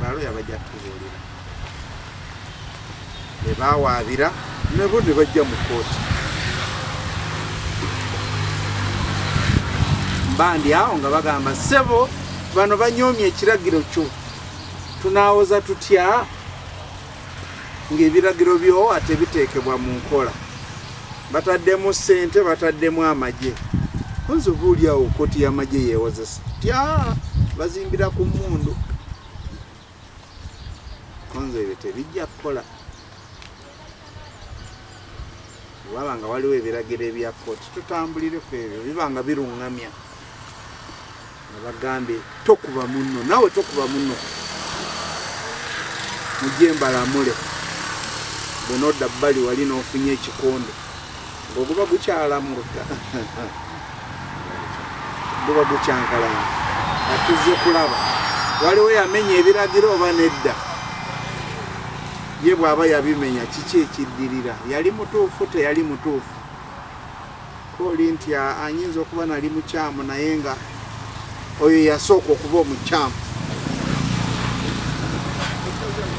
baloya bajja kutubuulira ne bawaabira nabo ne bajja mu kooti bandi awo nga bagamba sebo bano banyoomye ekiragiro kyo tunaawoza tutya ng'ebiragiro by'owa tebiteekebwa mu nkola bataddemu ssente bataddemu amagye kunze oba oliawo kkooti y'amagye yeewozesa tya bazimbira ku mmundu kunze ebyo tebijja kukola waba nga waliwo ebiragiro ebya kkooti tutambulire ku ebyo biba nga biruŋŋamya abagambe tokuba munno nawe tokuba munno mujje mbalamule bwenodda bbali wali nofunye ekikonde ngaoguba gukyalamulka guba gukyankalana atuzze kulaba waliwo yamenya ebiragiro oba nedda ye bwaba yabimenya kiki ekiddirira yali mutuufu teyali mutuufu Koli nti anyinza okuba nali mukyamu naye nga oyo yasooka okuba omukyamu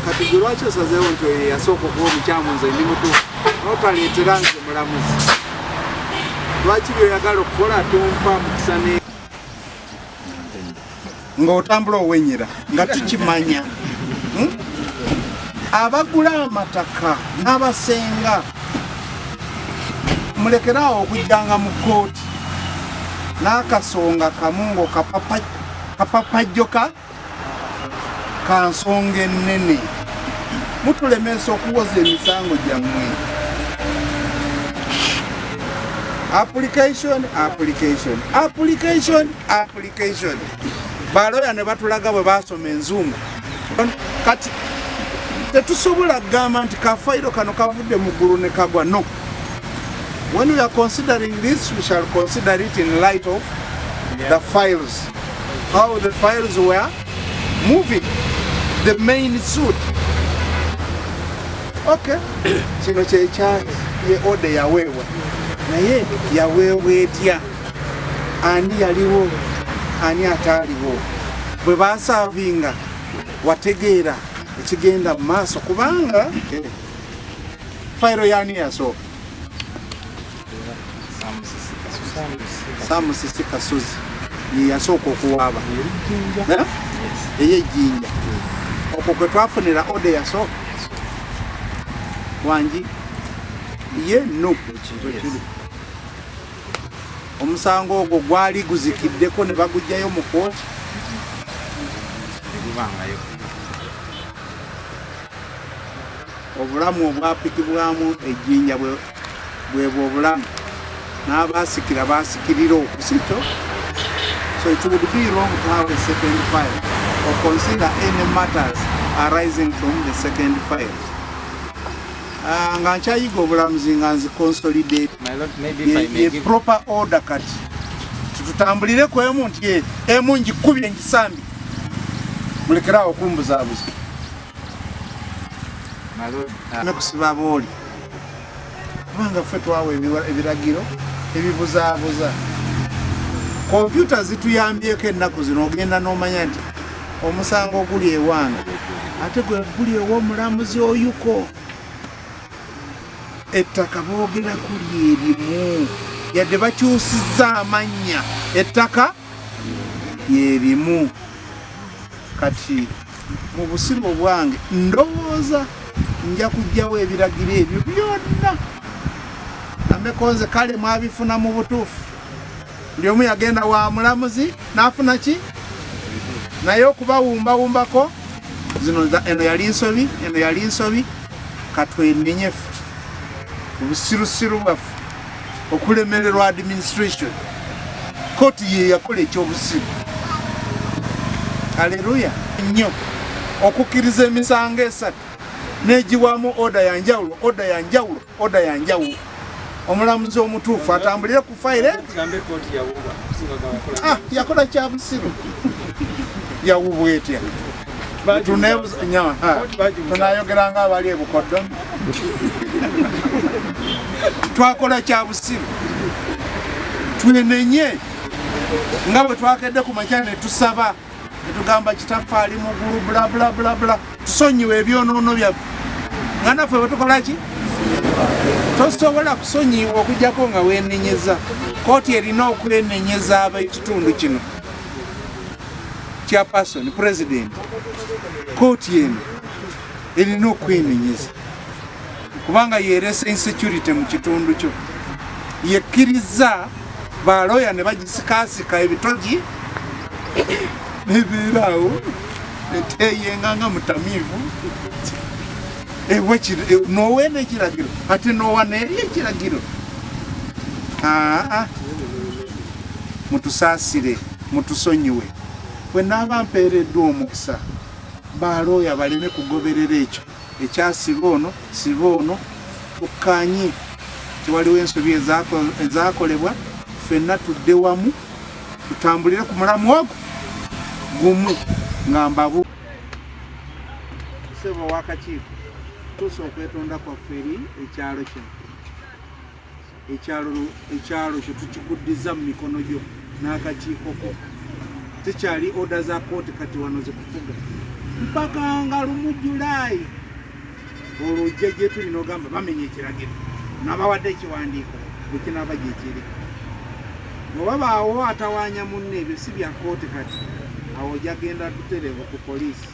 kati gwe lwaki osazeewo nti oyo yasooka okuba omukyamu nze ndi mutu notaleetera nze mulamuzi lwaki byoyagala okukola tompa mukisa ng'otambula owenyera nga tukimanya hmm? abagula amataka n'abasenga mulekere awo okujjanga mu kkooti n'akasonga kamu ng'okapapajjoka ka nsonga ennene mutulemesa okuwoza emisango gyammwe application application application application baloya ne batulaga bwe basoma enzungu kati tetusobola kugamba nti kafayiro kano kavudde mu ggulu ne kagwa no when we are considering this we shall consider it in light of the files how the files were moving the main suit okay kino kyekyaki ye ode yaweebwa naye yaweebwa etya ani yaliwo ani ataaliwo bwe basaavinga wategeera ekigenda mu maaso kubanga fayiro yani yasooka samusisi kasozi yeyasooka okuwaaba eyejjinja okwo kwe twafunira ode yasooka wangi ye no omusango ogwo gwali guzikiddeko ne bagugyayo mu kooti gubangayo obulamu obwapikibwamu ejjinja bwebwo obulamu n'abaasikira baasikirira okusikyo so it would be wrong to have a second file or consider any matters arising from the second file Ah, nga nkyayiga obulamuzi nga nzi consolidate ye proper order kati tutambulire ku emu nti eh, emu ngikubye ngisambi mulekerawo okumbuzabuza ah. nekusiba booli kubanga ffe twawa ebiragiro ebibuzaabuza kompyuta zituyambyeko ennaku zino ogenda n'omanya nti omusango oguli ewange ate gwe guli ew'omulamuzi oyuko ettaka boogera kuli erimu yadde bakyusizza amannya ettaka lyerimu kati mu busiru obwange ndowooza nja kujjawo ebiragiro ebyo byonna amekonze kale mwabifuna mu butuufu buli omu yagenda wa mulamuzi n'afuna ki naye okubawumbawumbako zino eno yali nsobi eno yali nsobi katwenenyefu obusirusiru bwaffe okulemererwa administration kooti ye yakola ekyobusiru aleluya nnyo okukkiriza emisango esatu negiwamu oda yanjawulo oda yanjawulo oda ya njawu omulamuzi omutuufu atambulire ku fayire ah, yakola kya busiru yawubwa etya tunayogera nga abali ebukoddo twakola kya busiru twenenye nga bwe twakedde ku makya ne tusaba netugamba kitaffe ali mugulu bulabulabulabula tusonyiwa ebyonoono byaffe nga naffe bwetukolaki tosobola kusonyiwa okujjako nga wenenyeza kooti erina okwenenyeza abekitundu kino kya pasoni pulezidenti kooti eno erina okwenenyeza kubanga yeresa insecurity mu kitundu kyo yekkiriza baloya ne bagisikaasika ebitogi nebeeraawo eteyenga nga mutamiivu noweena ekiragiro ate nowa neeri ekiragiro mutusaasire mutusonyiwe bwe naaba mpeereddwa omukisa ba looya baleme kugoberera ekyo ekyasiba ono siba ono tukkaanye tewaliwo ensobi ezakolebwa fenna tudde wamu tutambulire ku mulamu ogwo gumu nga mbabu sebo wakakiiko tuusa okwetonda kwaffe eri ekyalo kino ekyalo kyo tukikuddiza mu mikono gyo n'akakiiko ko tekyali oda za kooti kati wano zikufuga mpaka nga lumu julaayi olwo ojja gye tuli n'ogamba bamenya ekiragiro nabawadde ekiwandiiko bwekinaaba gyekiri wewabaawo atawanya munne ebyo si bya kooti kati awo ojagenda tutereevu ku poliisi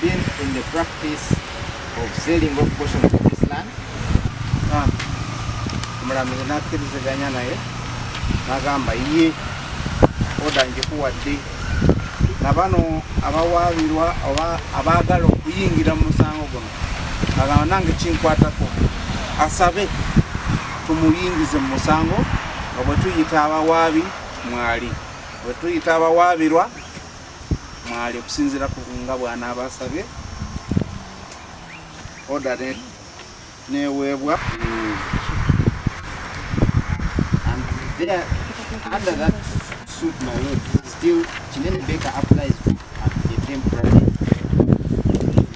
been in the practice of selling of portions of this land ah, omulamuzi nakkiriziganya naye nagamba ye oda njikuwadde na bano abawaabirwa oba abaagala okuyingira mu musango guno agamba nange kinkwatako asabe tumuyingize mu musango nga bwe tuyita abawaabi mwali bwe tuyita abawaabirwa mwali okusinziira ku nga bw'anaaba asabye oda neweebwa under that suit my lord still kinene beka applies at the temporary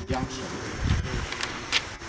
junction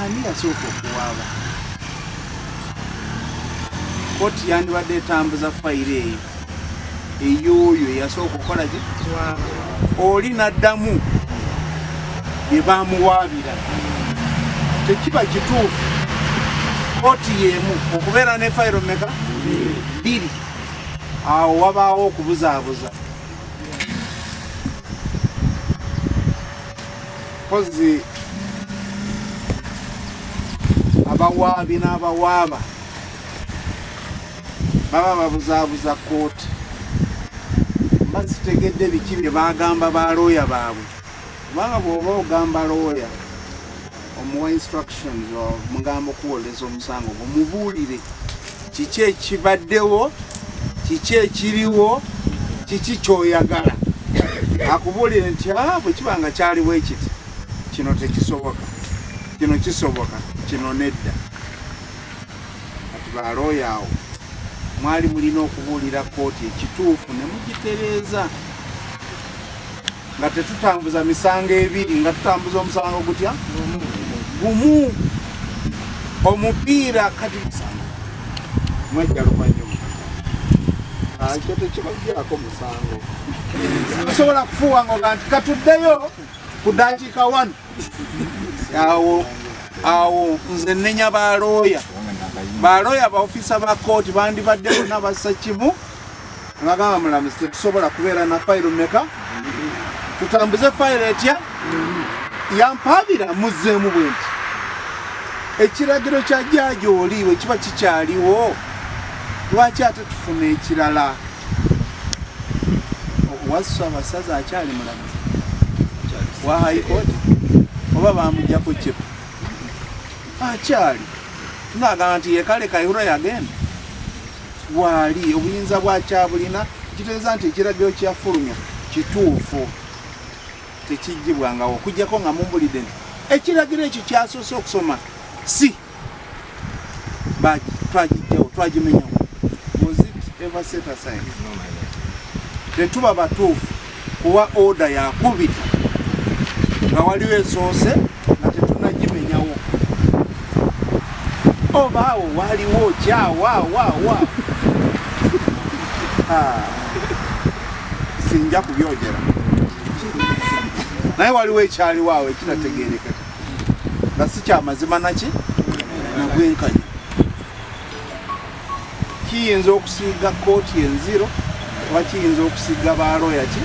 Ani yasooka okuwaaba? Kkooti yandibadde etambuza fayiro eyo eyooyo eyasooka okukola ki oli n'addamu bye bamuwaabira tekiba kituufu kkooti y'emu okubeera ne fayiro meka bbiri awo wabaawo okubuzaabuza mpozzi abawaabi n'abawaaba baba babuzaabuza kooti mba zitegedde biki bye bagamba ba looya baabwe kubanga bw'oba ogamba looya omuwa instructions mugamba okuwooleza omusango gumubuulire kiki ekibaddewo kiki ekiriwo kiki kyoyagala akubuulire nti ah, bwe kiba nga kyaliwo ekiti kino tekisoboka kino kisoboka kino nedda kati balooya awo mwali mulina okubuulira kooti ekituufu ne mugitereeza nga tetutambuza misango ebiri nga tutambuza omusango gutya gumu omupiira kati musango mwejja luvanyuma akyo tekibajjako musango tusobola kufuwanga oga nti katuddeyo ku dakiika wanu awo awo nze nenya balooya balooya baofisa ba kooti bandibadde bona bassa kimu Ngagamba mulamuzi tetusobola kubeera na fayiro meka tutambuze fayiro etya yampaabira muzzeemu bwe nti ekiragiro kya jaaji oli we kiba kikyaliwo lwaki ate tufuna ekirala wasu abasaza akyali mulamuzi wa haikooti oba bamujjako kipu akyali ngagamba nti yekale kaihura yagenda waali obuyinza bwakyabulina kitegeeza nti ekiragiro kyafulumya kituufu tekijjibwangawo okujjako nga mumbulidde nti ekiragiro ekyo kyasoose okusoma si twagijjawo twagimenyawo tetuba batuufu kuwa oda yakubiri nga waliwo esoose nga tetunagimenyawo oba awo waliwo kyawawawa ah, sinja kubyogera naye waliwo ekyaliwo awo ekinategerekeka nga si kyamazima naki nagwenkanya kiyinza okusiiga kooti enziro oba kiyinza okusiiga baloya ki